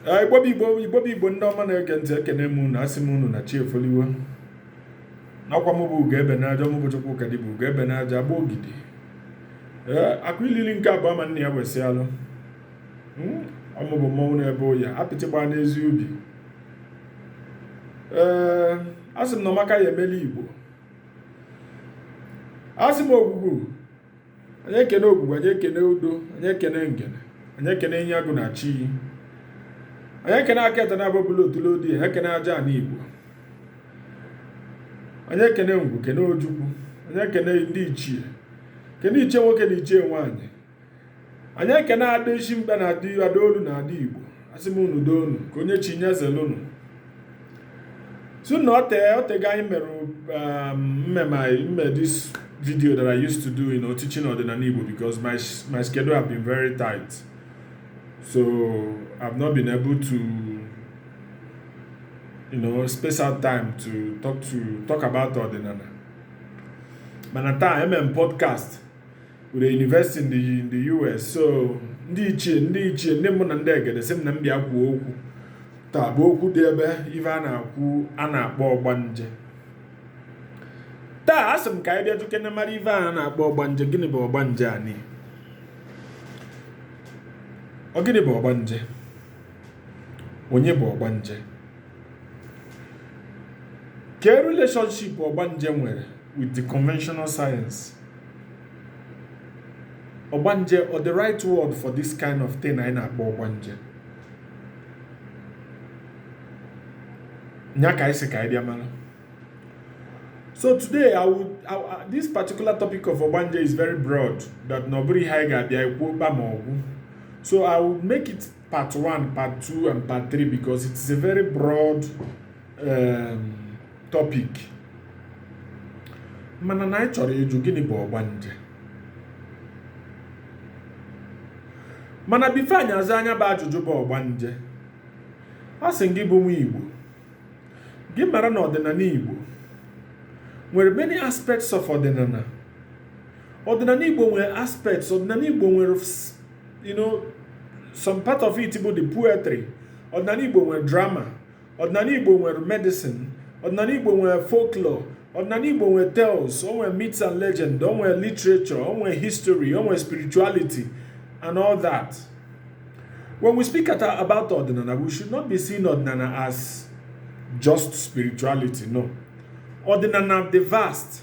Ah, igbo bụ igbo ndị ọma na-ege ntị ekene m unu asị m unu na chi efoliwo n'ọkwa m bụ ugo ebe n'aja m bụ chukwukadịbịa ugo ebe n'aja agba ogidi eh, akụ ilili nke abụọ ma nna ya wesị alụ hmm, ọ mụ bụ mmọnwụ na-ebe ụya apịtị gbaa n'ezi ubi ee eh, asị m na ọmaka ya emela igbo asị m ogwugwu anyị ekene ogwugwu anyị ekene udo anyị ekene ngene anyị ekene ihe agụ na chi iyi anyị ekene aka ete na-abụ bụla otule odi anyị ekene aja ana igbo anyị ekene ngwu kene ojukwu anyị ekene ndị ichie kene ichie nwoke na ichie nwaanyị anyị ekene ada isi mkpe na ada ada olu na ada igbo asị m unu doo unu ka onye chi nye zelunu so na ote otego anyị mere um, mmemme anyị mme this video that I used to do you know teaching ọdịnala igbo because my, my schedule have been very tight so I've not been able to you know space out time to talk to talk about ọdịnala mana taa eme m podcast with a university in the US so ndị ichie ndị ichie ndị mbụ na ndị egede sị m na m bịa kwuo okwu taa bụ okwu dị ebe ife a na-akwu a na-akpọ ọgbanje taa asị m ka anyị bịa jụkene mara ife a na-akpọ ọgbanje gịnị bụ ọgbanje anyị ọ gịnị bụ ọgbanje onye bụ ọgbanje kee relationship ọgbanje nwere with the conventional science ọgbanje or the right word for this kind of thing anyị na-akpọ ọgbanje nya ka anyị sị ka anyị bịa mara so today I would, I, I, this particular topic of ọgbanje is very broad that na ọ bụrọ ihe anyị ga-abịa ekwu kpam ọ gwụ so I would make it part one part two and part three because it is a very broad topic mana na anyị chọrọ ịjụ gịnị bụ ọgbanje mana before anyị aza nya bụ ajụjụ bụ ọgbanje asị m gị bụ nwa Igbo gị mara na ọdịnala Igbo nwere many aspects of ọdịnala ọdịnala Igbo nwere aspects ọdịnala Igbo nwere you know some part of it bụ the poetry ọdịnala Igbo nwere drama ọdịnala igbo nwere medicine ọdịnala igbo nwere folklore ọdịnala igbo nwere tales o nwere myths and legend o nwere literature o nwere history o nwere spirituality and all that when we speak at, about ọdịnala we should not be seeing ọdịnala as just spirituality no ọdịnala dị vast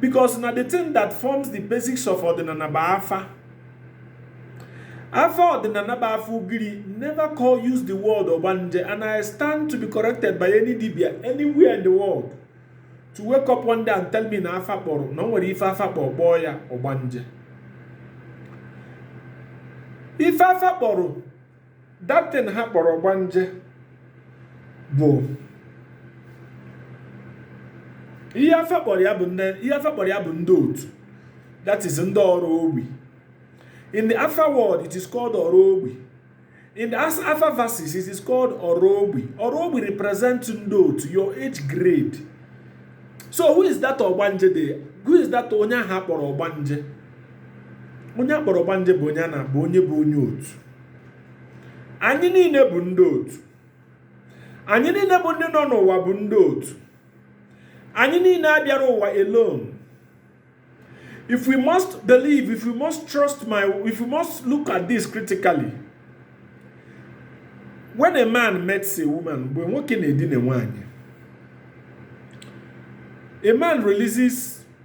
because na the thing that forms the basics of ọdịnana bụ afa afa ọdịnana bụ afa ugiri never call use the word ọgbanje and i stand to be corrected by any dibia anywhere in the world to wake up one day and tell me na afa kpọrọ na o nwere ife afa kpọrọ kpọọ ya ọgbanje ife afa kpọrọ that thing ha kpọrọ ọgbanje bụ ihe afa kpọrọ ya bụ ndị otu that is ndị ọra ogbi in the afa world it is called ọra ogbi in the afa verses it is called ọra ogbi ọra ogbi represent ndị otu your age grade so who is that ọgbanje there who is that onye a ha kpọrọ ọgbanje onye a kpọrọ ọgbanje bụ onye a na-abụ onye bụ onye otu anyị niile bụ ndị otu anyị niile bụ ndị nọ n'ụwa bụ ndị otu anyị niile abịarọ ụwa alone if we must believe if we must trust my if we must look at this critically when a man meets a woman mgbe nwoke na-edina nwaanyị a man releases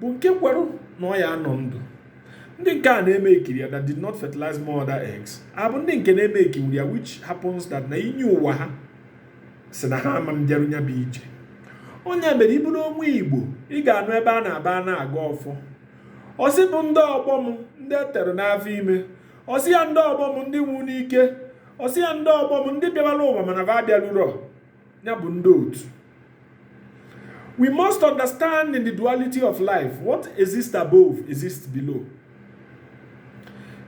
bụ nke kwere na ọ ya anọ ndụ ndị nke a na-emekirọ ya that did not fertilize mother eggs a bụ ndị nke na-emekirọ ya which happens that na inyi ụwa ha sị na ha ama abịaru ya bụ ije ọ nya mere ị bụrụ onye igbo ị ga-anụ ebe a na ebe a na-agọ ọfọ ọ sị bụ ndị ọgbọ m ndị e tere n'afọ ime ọ sị ya ndị ọgbọ m ndị nwụ n'ike ọ sị ya ndị ọgbọ m ndị bịawara ụwa mana va abịarurọ ya bụ ndị otu we must understand in the duality of life what exists above exists below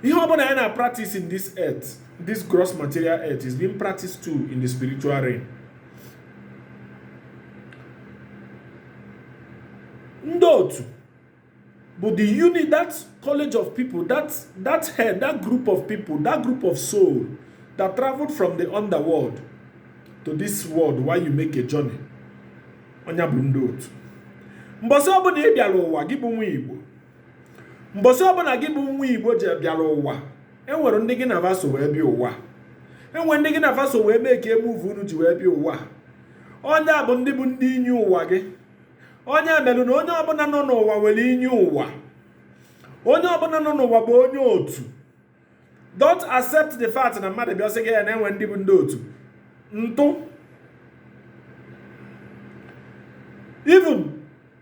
ihe ọ bụla anyị na practice in this earth this gross material earth is being practiced too in the spiritual realm ndị otu Bụ the unit, that college of people, that, that head, that group of people, that group of soul that traveled from the underworld to this world while you make a journey. Ọ nya bụ ndị otu. Mbọsị ọbụna ị bịara ụwa gị bụ nwa Igbo. Mbọsị ọbụna gị bụ nwa Igbo ji bịara ụwa. E nwere ndị gị na va so wee bịa ụwa. E nwere ndị gị na va so wee mee ka move unu ji wee bịa ụwa. Ọ nya bụ ndị bụ ndị inyi ụwa gị. ọ nya melu na onye ọbụna nọ n'ụwa nwere inyi ụwa onye ọbụna nọ n'ụwa bụ onye otu don't accept the fact na mmadụ bịa sị gị na e nwere ndị bụ ndị otu ntụ even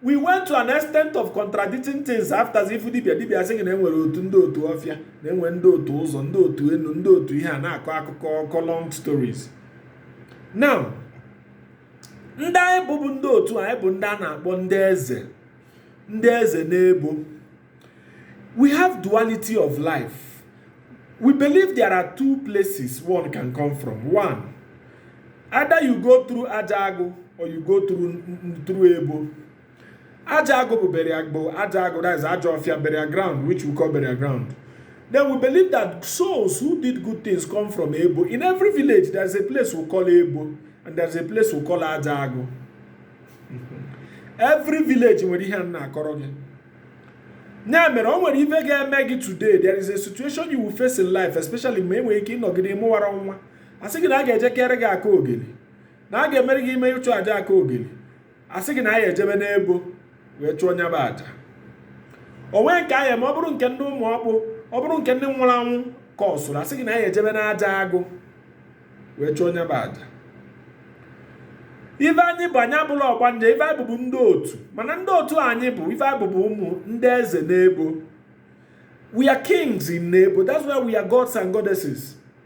we went to an extent of contradicting things after as if dibia dibia sị gị na e nwere otu ndị otu ọfịa na e nwere ndị otu ụzọ ndị otu enu ndị otu ihe a na-akọ akụkọ long stories now ndị anyị bụ bụ ndị otu anyị bụ ndị a na-akpọ ndị eze ndị eze n'ebo we have duality of life we believe there are two places one can come from one either you go through aja agụ or you go through through ebo Aja agụ bụ burial gbo Aja agụ that is Ajofia burial ground which we call burial ground. Then we believe that souls who did good things come from Ebo. In every village there is a place we call Ebo and there is a place we call Aja agụ. Every village nwere ihe a m na-akọrọ gị. Ya mere o nwere ife ga-eme gị today there is a situation you will face in life especially ma enwere ike ịnọgide mụwara nwa. A sị gị na a ga-eje kere gị aka ogeli na a ga-emere gị ime ịchụ aja aka ogeli a sị gị na anyị ejebe n'ebo wee chụọ nya bụ aja o nwe nke a ga-eme ọ bụrụ nke ndị ụmụ ọkpụ ọ bụrụ nke ndị nwụrụ anwụ ka ọ sụrụ a sị gị na anyị ejebe n'aja agụ wee chụọ nya bụ aja ife anyị bụ anyị abụla ọgbanje ife anyị bụ bụ ndị otu mana ndị otu anyị bụ ife anyị bụ bụ ụmụ ndị eze n'ebo we are kings in n'ebo that's why we are gods and goddesses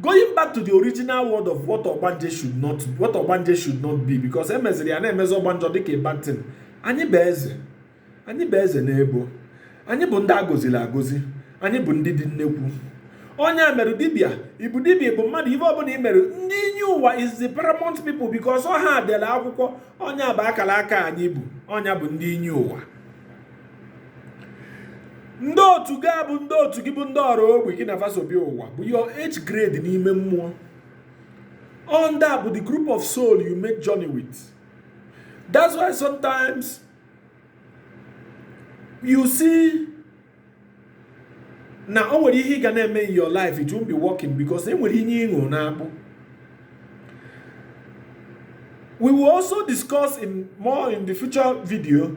going back to the original word of what ọgbanje should not what ọgbanje should not be because e meziri ya a na-emezi ọgbanje dịka a bad thing anyị bụ eze anyị bụ eze n'ebo anyị bụ ndị a gọzili agọzi anyị bụ ndị dị nnekwu onye a mere dibịa ị bụ dibịa bụ mmadụ ife ọbụla i mere ndị inye ụwa is the paramount people because ọ ha dela akwụkwọ nya bụ akala aka anyị bu ọ nya bụ ndị inye ụwa ndị otu gị abụ ndị otu gị bụ ndị ọra ọgbọ gị na fa so bịa ụwa bụ your age grade n'ime mmụọ all ndị a bụ the group of soul you make journey with that's why sometimes you see na o nwere ihe ị ga na-eme in your life it won't be working because e nwere inyi ị ṅụrụ n'akpụ we will also discuss more in the future video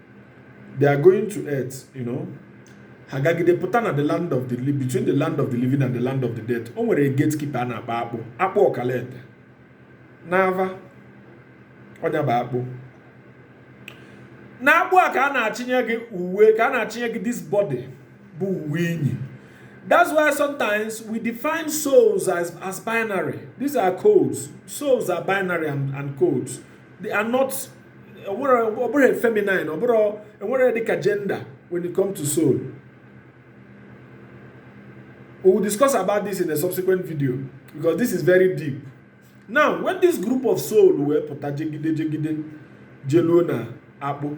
they are going to earth you know ha gagide pụta na the land of the between the land of the living and the land of the dead o nwere gatekeeper a na-akpọ akpụ akpụ ọkalaete n'ava ọ nya bụ akpụ n'akpụ a ka a na-achịnye gị uwe ka a na-achịnye gị this body bụ uwe i nyi that's why sometimes we define souls as, as binary these are codes souls are binary and, and codes they are not ọ bụrọ feminine ọ bụrọ enwerọ dịka gender when it come to soul we will discuss about this in a subsequent video because this is very deep now when this group of soul wee pụta jegide jegide jeluo na akpụ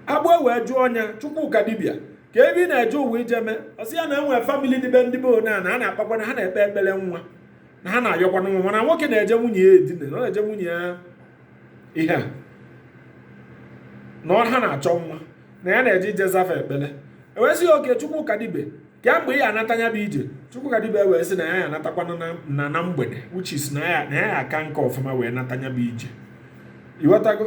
akpụ e wee jụọ nya chukwuka dibia kee ive ị na-eje ụwa ije mee ọ sị ya na enwere famili dị be ndị be one a na a na-akpakwa na ha na-ekpe ekpere nwa na ha na-ayọkwa nwa mana nwoke na-eje nwunye ya edina na ọ na-eje nwunye ya ihe na ọ ha na-achọ nwa na ya na-eje ije zaa fa ekpere e wee sị gị okay chukwuka dibia kee mgbe ị ya anata ya bụ ije chukwuka dibia wee sị na ya ya anatakwa na na na mgbede which is na ya na ya aka nka ọfụma wee nata ya bụ ije ị wetago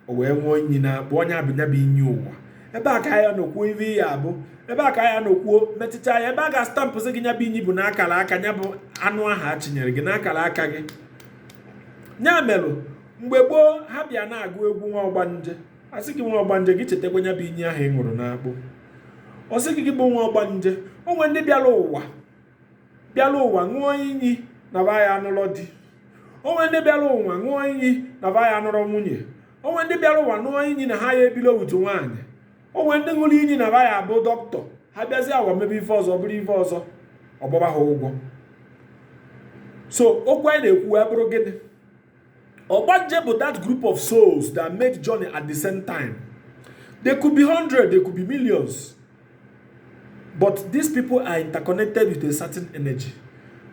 o wee ṅụọ inyi na bụ onye a bụ nya bụ inyi ụwa ebe a ka ya nọ kwuo ive ya abụ ebe a ka ya nọ kwuo metụta ya ebe a ga-astampụsị gị nya bụ inyi bụ n'akara aka ya bụ anụ ahụ a chi nyere gị n'akara aka gị ya mere mgbe gboo ha bịa na-agụ egwu nwa ọgbanje a sị gị nwa ọgbanje gị chetakwa ya bụ inyi ahụ ị ṅụrụ n'akpụ ọ sị gị gị bụ nwa ọgbanje o nwere ndị bịara ụwa bịara ụwa ṅụọ iyi na ba ya anụlọ di o nwere ndị bịara ụwa ṅụọ iyi na ba ya anụrọ nwunye o nwere ndị bịara ụwa ṅụọ iyi na ha ya ebilo otu nwaanyị o nwere ndị ṅụrụ iyi na ba ya abụ dọkịta ha bịazi ụwa mebe ife ọzọ bụrụ ife ọzọ ọ gbaba ha ụgwọ so okwu anyị na-ekwu wee bụrụ gịnị ọgbanje bụ that group of souls that made journey at the same time they could be hundred they could be millions But these people are interconnected with a certain energy.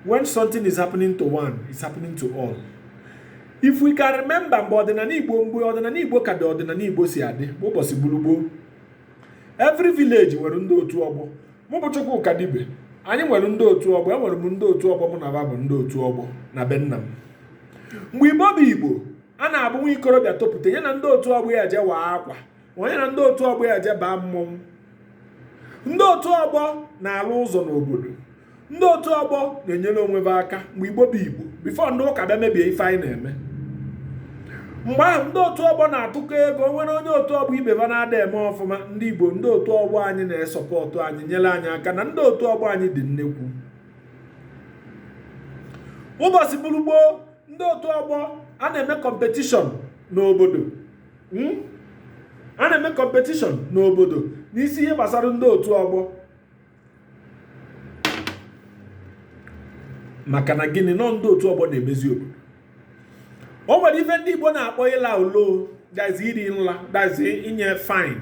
When something is happening to one, it's happening to all. If we can remember mgbe ọdịnala Igbo mgbe ọdịnala Igbo ka dị ọdịnala Igbo si adị bụ ụbọchị bụrụ gboo every village nwere ndị otu ọgbọ mụ bụ Chukwuka Dibia anyị nwere ndị otu ọgbọ enwere m ndị otu ọgbọ mụ na ba bụ ndị otu ọgbọ na be nna m mgbe Igbo bụ Igbo a na-abụ nwa ikorobịa topụta ya na ndị otu ọgbọ ya je waa akwa onye na ndị otu ọgbọ ya jebaa mmọnwụ ndị otu ọgbọ na-alụ ụzọ n'obodo ndị otu ọgbọ na-enyere onwe ha aka mgbe igbo bụ igbo bifo ndị ụka bịa mebie ife anyị na-eme mgbe ahụ ndị otu ọgbọ na-atụkọ ego o nwere onye otu ọgbọ ibe ha na-ada eme ọfụma ndị igbo ndị otu ọgbọ anyị na-esọpọtụ anyị nyere anyị aka na ndị otu ọgbọ anyị dị nnekwu ụbọchị bụrụ gboo ndị otu ọgbọ a na-eme kọmpetishọn n'obodo hmm? a na-eme kọmpetishọn n'obodo n'isi ihe gbasara ndị otu ọgbọ maka na gịnị na ọ ndị otu ọgbọ na-emezi obodo o nwere ife ndị Igbo na-akpọ ịla ulo that is iri nla that is inye fine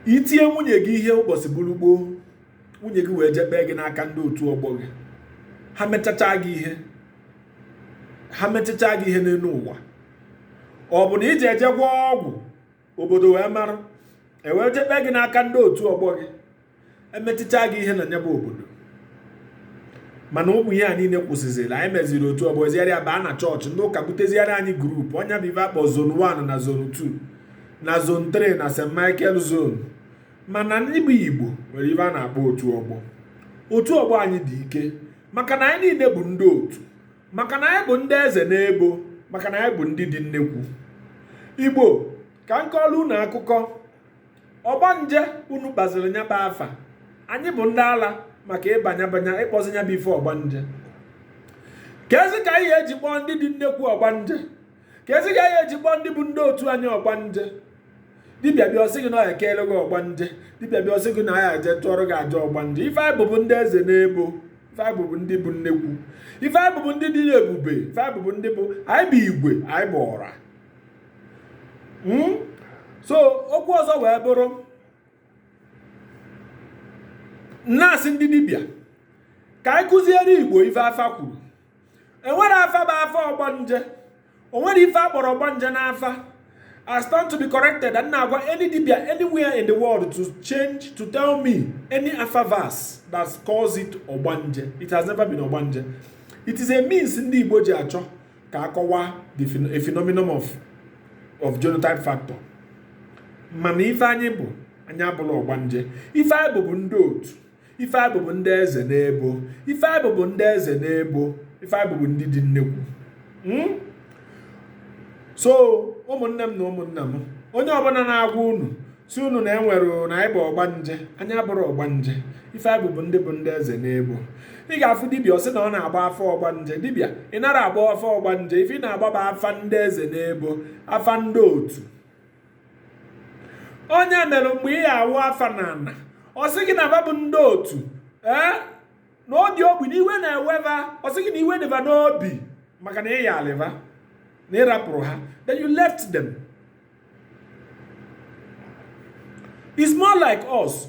i tie nwunye gị ihe ụbọchị bụrụ gboo nwunye gị wee je kpee gị n'aka ndị otu ọgbọ gị ha mechacha gị ihe ha mechicha gị ihe n'elu ụwa ọ bụ na iji eje gwọọ ọgwụ obodo wee mara ewee je kpee gị n'aka ndị otu ọgbọ gị emechicha gị ihe na nya bụ obodo mana ụmụ ihe a niile kwụsịzịrị anyị meziri otu ọgbọ zigharịa baa na chọọchị ndị ụka buteziara anyị group ọ nya bụ ife a kpọ zone 1 na zone 2 na zone 3 na st michael zone mana ndị bụ igbo nwere ife a na-akpọ otu ọgbọ otu ọgbọ anyị dị ike maka na anyị niile bụ ndị otu maka na anyị bụ ndị eze n'ebo maka na anyị bụ ndị dị nnekwu igbo ka m kọọrọ unu akụkọ ọgbanje unu kpọziri nya bụ afa anyị bụ ndị ala maka ịbanya banya ịkpọzi nya bụ ife ọgbanje kezi ka anyị eji kpọọ ndị dị nnekwu ọgbanje kezi ka anyị eji kpọọ ndị bụ ndị otu anyị ọgbanje dibịa bịa ọ sị gị na ya ekeele gị ọgbanje dibịa bịa ọ sị gị na ya eje chụọrọ gị aja ọgbanje ife anyị bụ bụ ndị eze n'ebo ife anyị bụ bụ ndị bụ nnekwu ife anyị bụ bụ ndị dị ebube ife anyị bụ bụ ndị bụ anyị bụ igwe anyị bụ ọra hmm? so okwu ọzọ wee bụrụ na-asị ndị dibịa ka anyị kụziere igbo ife afa kwuru enwerọ afa bụ afa ọgbanje o nwerọ ife a kpọrọ ọgbanje n'afa I stand to be corrected and na-agwa any dibia anywhere in the world to change to tell me any afa verse that calls it ọgbanje it has never been ọgbanje it is a means ndị Igbo ji achọ ka akọwa a phenomenon of of genotype factor mana ife anyị bụ anyị abụrọ ọgbanje ife anyị bụ bụ ndị otu ife anyị bụ bụ ndị eze n'ebo ife anyị bụ bụ ndị eze n'ebo ife anyị bụ bụ ndị dị nnekwu hmm? so ụmụnne m na ụmụnna m onye ọbụla na-agwa unu sị unu na enwere na anyị bụ ọgbanje anyị abụrọ ọgbanje ife anyị bụ bụ ndị bụ ndị eze n'ebo ị ga-afụ dibịa ọ sị na ọ na-agba afa ọgbanje dibịa ị narọ agba afa ọgbanje ife ị na-agba bụ afa ndị eze n'ebo afa ndị otu ọ nya mere mgbe ị ya-awụ afa n'ana ọ sị gị na va bụ ndị otu ee na odi ogbi na iwe na-ewe va ọ sị gị na iwe dị va n'obi maka na ị yalị va na ị rapụrụ ha that you left them it's more like us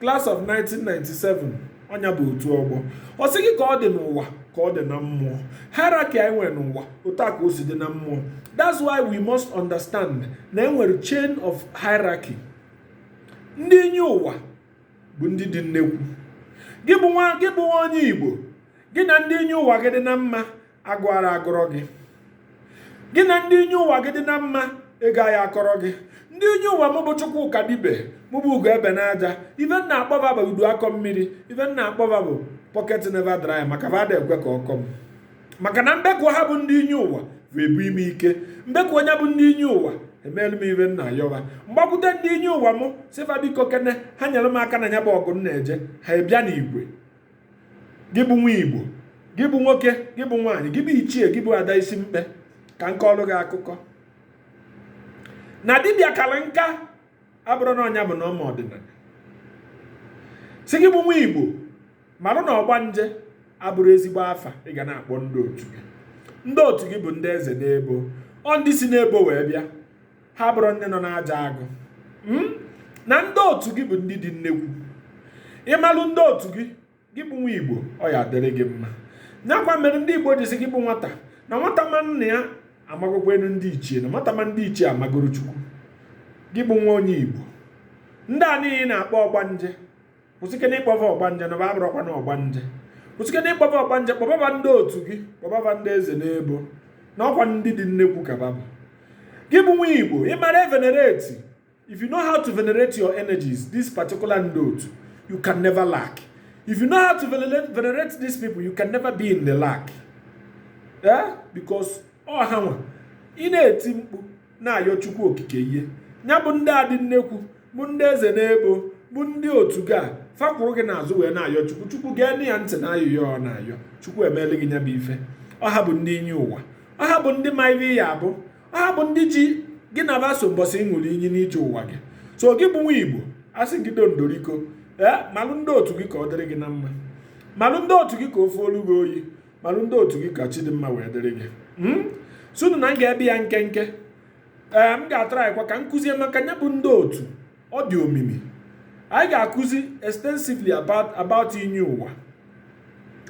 Class of 1997 ọ nya bụ otu ọgbọ ọ sị gị ka ọ dị n'ụwa ka ọ dị na mmụọ hierarchy anyị nwere n'ụwa otu a ka o si dị na mmụọ that's why we must understand na enwere chain of hierarchy ndị inyi ụwa bụ ndị dị nnekwu gị bụ nwa gị bụ nwa onye igbo gị na ndị inyi ụwa gị dị na mma agụụ aya agụrọ gị gị na ndị inye ụwa gị dị na mma ego aya akọrọ gị ndị inye ụwa mụ bụ Chukwu ka dibịa mụ bụ ugo ebe n'aja ife m na-akpọ va bụ udu akọ mmiri ife m na-akpọ va bụ pocket never dry maka va ada ekwe ka ọ kọ m maka na m bekuo ha bụ ndị inye ụwa bụ ebunye m ike m bekuo nya bụ ndị inye ụwa emeelu m ife m na-ayọ va m gbakwute ndị inye ụwa m sị fa biko kene ha nyere m aka na ya bụ ọgụ m na-eje ha abịa n'igwe gị bụ nwa igbo gị bụ nwoke gị bụ nwaanyị gị bụ ichie gị bụ ada isi mkpe ka m kọọlụ gị akụkọ na dibịa kara nka abụrọ na ọnya bụ na ọ ma ọdịnala sị gị bụ nwa igbo marụ na ọgbanje abụrọ ezigbo afa ị ga na-akpọ ndị otu gị ndị otu gị bụ ndị eze n'ebo ọ ndị si n'ebo wee bịa ha bụrụ ndị nọ n'aja agụ hmm? na ndị otu gị bụ ndị dị nnekwu ị malụ ndị otu gị gị bụ nwa igbo ọ ya adịrị gị mma nyakwa mere ndị igbo ji sị gị bụ nwata na nwata ma nna ya amagokwanụ ndị ichie na nwata ma ndị ichie amagoro chukwu gị bụ nwa onye igbo ndị a niile na-akpọ ọgbanje kwụsịkene ịkpọ va ọgbanje na va abụrọkwa na ọgbanje kwụsịkene ịkpọ va ọgbanje kpọba va ndị otu gị kpọba va ndị eze n'ebo na ọkwa ndị dị nnekwu ka va bụ gị bụ nwa igbo ị mara evenerate if you know how to venerate your energies this particular ndị otu you can never lack if you know how to venerate, venerate these people you can never be in the lack eh? because ọ ha nwa ị na-eti mkpu na-ayọ chukwu okike ihe ya bụ ndị a dị nnekwu bụ ndị eze n'ebo bụ ndị otu gị fa akwụrụ gị n'azụ wee na-ayọ chukwu chukwu geenụ ya ntị na ayịyọ ọ na-ayọ chukwu emeelu gị nya bụ ife ọ ha bụ ndị inye ụwa ọ ha bụ ndị ma ife ị ya-abụ ọ ha bụ ndị ji gị na va so mbọsị ị ṅụrụ iyi n'ije ụwa gị so gị bụ nwa igbo asị gị doo doo biko ee malụ ndị otu gị ka ọ dịrị gị na mma malụ ndị otu gị ka ofe olu gị oyi malụ ndị otu gị ka chi dị mma wee dịrị gị hmm? sunu na m ga-ebe ya nkenke ee m ga-atrykwa ka m kụzie maka nya bụ ndị otu ọ dị omimi anyị ga-akụzi extensively about about inye ụwa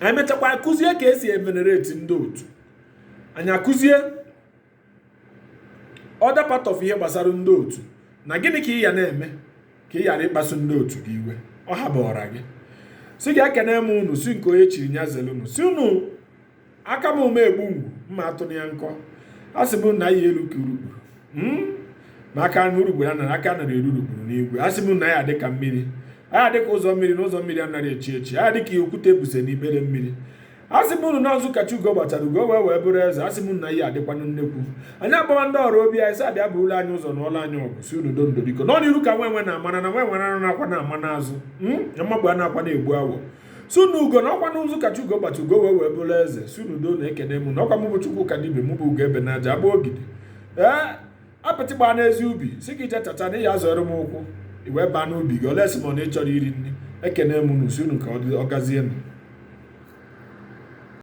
anyị mechakwa akụzie ka e si evenerate ndị otu anyị akụzie other part of ihe gbasara ndị otu na gịnị ka ị ya na-eme ka ị ghara ịkpasu ndị otu gị iwe ọ habara gị si gị ekene m unu sị nke onye chiri nya zere unu sị unu aka m ume egbu ngwu mma atụ ya nkọ asị m na a ya-elu ka urukpuru hmm? maka na urukpuru anara aka anara eru urukpuru n'igwe asị m na a ya-adị ka mmiri a ya-adị ka ụzọ mmiri na ụzọ mmiri anaghị echi echi a ya-adị ka okwute buse n'ime mmiri asị m unu na nzu ka chi ugo gbachara ugo wee wee bụrụ eze asị m na ihe adịkwanụ nnekwu anyị agbawa ndị ọrụ obi anyị si abịa burula anyị ụzọ nụọla anyị ọgụ sị unu ndo ndo biko na ọ n'iru ka nwa enwe na-amana na nwa enwe anakwana ama n'azụ hmm? mmagbu anakwana egbu awọ sị unu ugo na ọkwa nzu ka chi ugo gbacha ugo wee wee bụrụ eze sị unu doo na-ekene mụ na ọkwa mụ bụ chukwu ka dibịa mụ bụ ugo ebe n'aja agba ogidi ee eh? apịtị gbaa n'ezi ubi sị gị je chacha na ị ya-azọrọ m ụkwụ i wee baa n'ubi gị olee sị m na ị chọrọ iri nri ekene m unu sị unu ka ọ gazie nụ